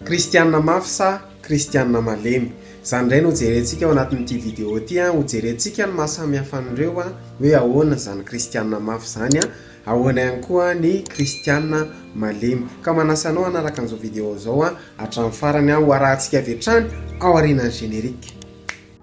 Kristiana mafy sa kristiana malemy? Izany indray no jerentsika ao anatin'ity video ity an! Hojerentsika ny maha samy hafa an'ireo hoe ahoana izany kristiana mafy izany an! Ahoana ihany koa ny kristiana malemy? Ka manasa anao hanaraka an'izao video izao an hatramin'ny farany an! Ho arahantsika avy hatrany ao aorianan'ny générique.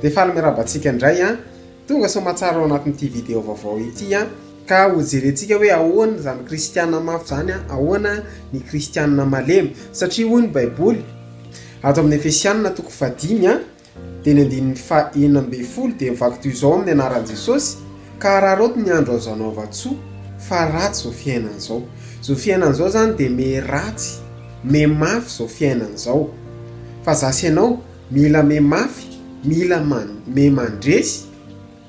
Dia faly miarahaba antsika indray an! Tonga soamatsara ao anatin'ity video vaovao ity an! Ka hojerentsika hoe ahoana izany kristiana mafy izany an! Ahoana ny kristiana malemy? Satria hoy ny baiboly ato amin'ny Efesianina toko fahadimy an, Teny andininy faha enina ambin'ny folo dia mivaky toy izao amin'ny anaran'i Jesosy, Ka araraoty ny andro azo anaovan-tsoa, fa ratsy izao fiainana izao. Izao fiainana izao izany dia miha ratsy, miha mafy izao fiainana izao. Fa izaho sy ianao mila miha mafy, mila miha mandresy.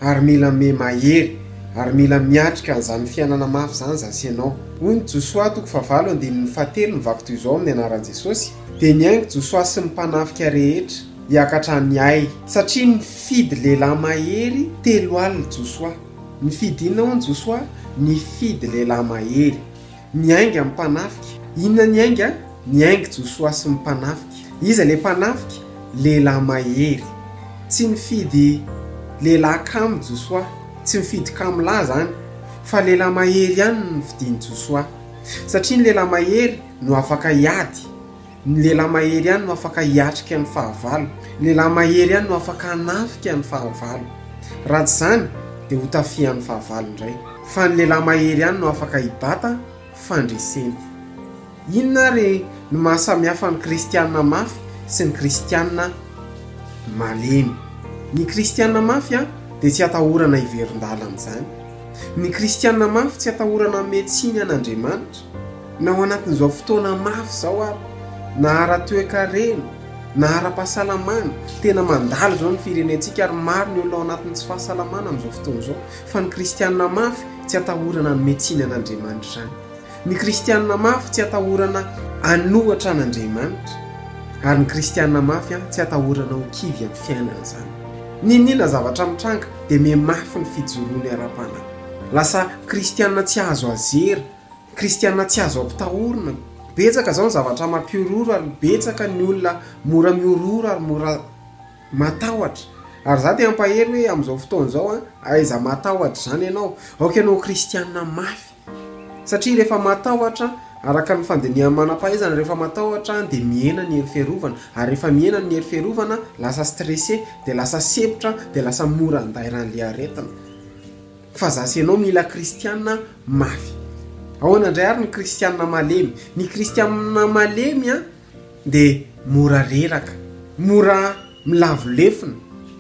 ary mila mihe mahery ary mila miatrika an'izany fiainana mafy izany zasy ianao. Hoy ny Josoa toko fahavalo andininy fahatelo ny vaky toy izao amin'ny anaran'i Jesosy, dia nihaingo Josoa sy ny mpanafika rehetra hiakatra any Ay, satria nifidy lehilahy mahery telo alina Josoa. Nifidy inona hono Josoa? Nifidy lehilahy mahery. Ny ainga amin'ny mpanafika. Inona ny ainga? Ny aingy Josoa sy ny mpanafika. Iza ilay mpanafika? Lehilahy mahery. Tsy nifidy lehilahy kamo Josoa. Tsy mifidy kamo lahy izany. Fa lehilahy mahery ihany no nofidin'i Josoa. Satria ny lehilahy mahery no afaka hiady. Ny lehilahy mahery ihany no afaka hiatrika ny fahavalo. Ny lehilahy mahery ihany no afaka hanafika ny fahavalo. Raha tsy izany dia ho tafihan'ny fahavalo indray. Fa ny lehilahy mahery ihany no afaka hibata fandresena. Inona ary no maha samy hafa ny kristiana mafy sy ny kristiana malemy? Ny kristiana mafy dia tsy atahorana hiverin-dalana izany. Ny kristiana mafy tsy atahorana hanome tsiny an'Andriamanitra. Na ao anatin'izao fotoana mafy izao ary, na ara-toekarena, na ara-pahasalamana, tena mandalo izao ny firenentsika ary maro ny olona ao anatin'ny tsy fahasalamana amin'izao fotoana izao. Fa ny kristianina mafy tsy atahorana hanome tsiny an'Andriamanitra izany. Ny kristianina mafy tsy atahorana hanohatra an'Andriamanitra, ary ny kristianina mafy tsy atahorana ho kivy amin'ny fiainana izany. N'inon'inona zavatra mitranga dia mihamafy ny fijoroany ara-panahy. Lasa kristianina tsy azo azera Kristiana tsy azo ampitahorina. Betsaka izao ny zavatra mampihorohoro ary betsaka ny olona mora mihorohoro ary mora matahotra. Ary izaho te hampahery hoe amin'izao fotoana izao an, aiza matahotra izany ianao? Aoka ianao ho kristiana mafy. Satria rehefa matahotra, araka ny fandinihan'ny manam-pahaizana, rehefa matahotra dia mihena ny hery fiarovana. Ary rehefa mihena ny hery fiarovana, lasa stressé, dia lasa sempotra, dia lasa mora handairan'ilay aretina. Fa za sy ianao mila kristiana mafy. Ahoana indray ary ny kristiana malemy? Ny kristiana malemy dia mora reraka, mora milavo lefona,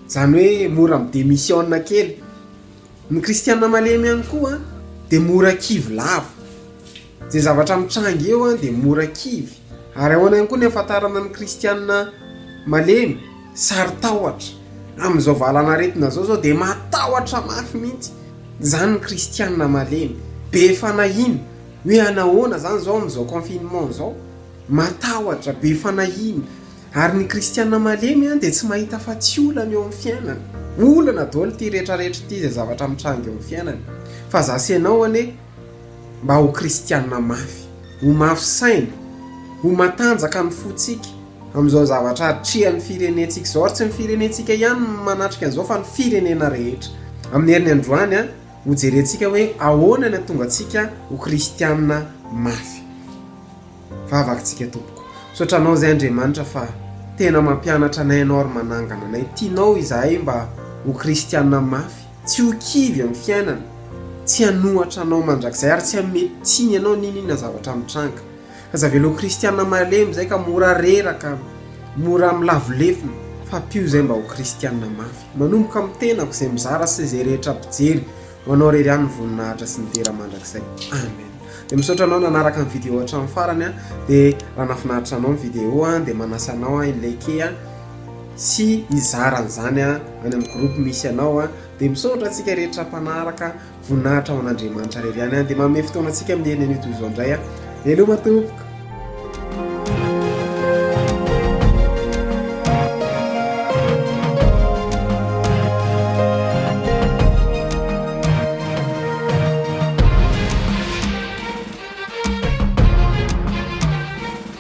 izany hoe mora mi-demisiona kely. Ny kristiana malemy ihany koa dia mora kivy lava. Izay zavatra mitranga eo dia mora kivy, ary ahoana ihany koa ny hahafantarana ny Kristianina malemy? Saro-tahotra. Amin'izao valan'aretina izao izao dia matahotra mafy mihitsy izany ny Kristianina malemy. Be fanahiana. Hoe hanahoana izany izao amin'izao confinement izao? Matahotra, be fanahiana. Ary ny Kristianina malemy dia tsy mahita afa-tsy olana eo amin'ny fiainany. Olana daholo ity rehetrarehetra ity izay zavatra mitranga eo amin'ny fiainany. Fa izaho sy ianao anie, mba ho kristiana mafy, ho mafy saina, ho matanjaka ny fontsika amin'izao zavatra atrehan'ny firenentsika izao, ary tsy ny firenentsika ihany no manatrika an'izao fa ny firenena rehetra. Amin'ny heriny androany, hojerentsika hoe ahoana ny hatongantsika ho kristiana mafy. Vavakintsika tompoko. Misaotra anao izay Andriamanitra fa tena mampianatra anay ianao ary manangana anay. Tianao izahay mba ho kristiana mafy. Tsy ho kivy amin'ny fiainana, tsy hanohatra anao mandrakizay, ary tsy hanome tsiny anao n'inon'inona zavatra mitranga. Aza velao ho kristiana malemy izay ka mora reraka, mora milavo lefona, fa ampio izay mba ho kristiana mafy. Manomboka amin'ny tenako izay mizara sy izay rehetra mpijery, ho anao irery ihany ny voninahitra sy ny dera mandrakizay. Amen. Dia misaotra anao nanaraka ny video hatramin'ny farany, dia raha nahafinaritra anao ny video dia manasa anao aho hi-liker. sy hizara an'izany any amin'ny groupe misy anao a, dia misaotra antsika rehetra mpanaraka, voninahitra ho an'Andriamanitra irery ihany any, dia manome fotoana antsika mihaino an'io toy izao indray a, veloma tompoko.